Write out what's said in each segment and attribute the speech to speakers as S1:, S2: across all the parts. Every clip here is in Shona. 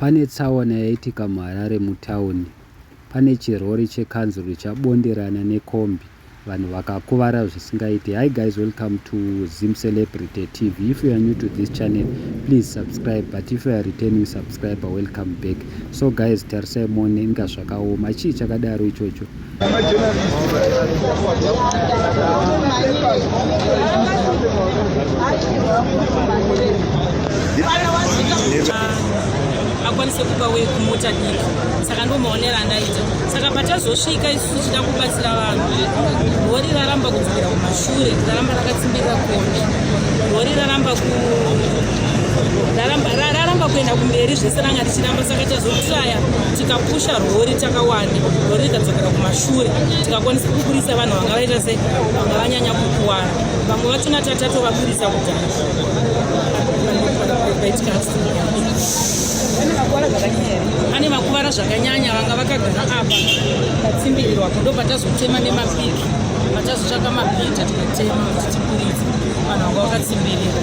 S1: Pane tsaona yaitika muHarare mutauni pane chirori chekanzuru chabonderana nekombi vanhu vakakuvara zvisingaite. Hi guys welcome to Zim Celebrity TV. If you are new to this channel please subscribe but if you are returning subscriber welcome back. So guys tarisai muone inga zvakaoma chii chakadaro ichocho.
S2: akwanise kuba wei kumota diki saka ndomaonera andaita saka patazosvika isu tichida kubatsira vanhu rori raramba kudzokera kumashure raramba rakatsimbirira kona rori raramba ku raramba kuenda kumberi zvese ranga richiramba saka tazotraya tikapusha rori takawanda rori rikadzokera kumashure tikakwanisa kuburitsa vanhu vanga vaita se vanga vanyanya kukuvara vamwe vachona tatatovaburitsa kudhara pane vakuvara zvakanyanya vanga vakagara apa vatsimbirirwa kudo patazotema nemapiki patazotsvaka mabhita tikatema kuti tiburitse vanhu vanga vakatsimbirira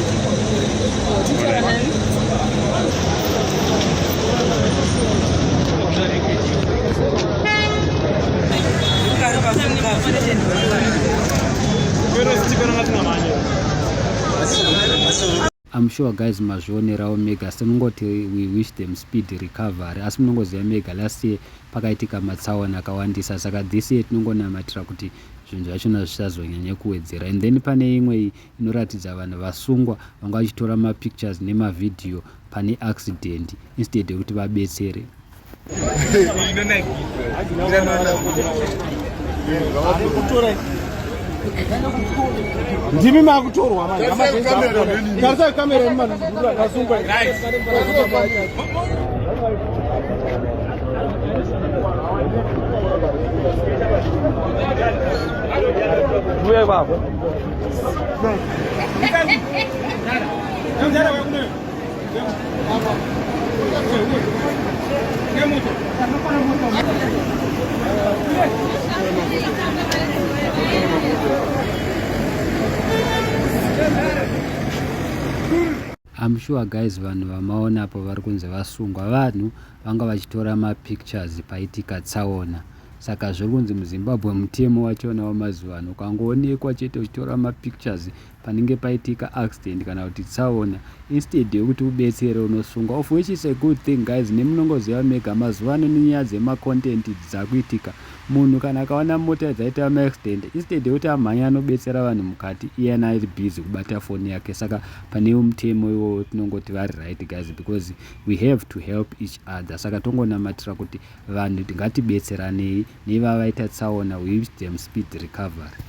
S1: I'm sure guys mazvionerawo mega asi tinongoti we wish them speed recovery asi munongoziva mega last year pakaitika matsaona akawandisa saka this year tinongonamatira kuti zvinhu zvachona zvisazonyanya kuwedzera and then pane imwe inoratidza vanhu vasungwa vanga vachitora mapictures nemavhidhiyo pane accident instead yekuti vabetsere
S3: ndimi makutorwa maiarisai kamera yemumanhurasungwa Thank you.
S1: I'm sure guys vanhu vamaona apo vari kunzi vasungwa vanhu vanga vachitora mapictures paitika tsaona Saka zviri kunzi muZimbabwe mutemo wachona wamazuva ano ukangoonekwa chete uchitora mapictures panenge paitika accident kana kuti tsaona instead yekuti ubetsere unosungwa of which is a good thing guys nemunongoziva mega mazuva ano nenyaya dzemacontent dzakuitika munhu kana akaona mota dzaita maaccident instead yekuti amhanya anobetsera vanhu mukati iyena ari busy kubata foni yake saka pane mutemo iwowo tinongoti vari right guys because we have to help each other saka tongonamatira kuti Vanhu ngatibetseranei nevavaita tsaona we wish them speed recovery.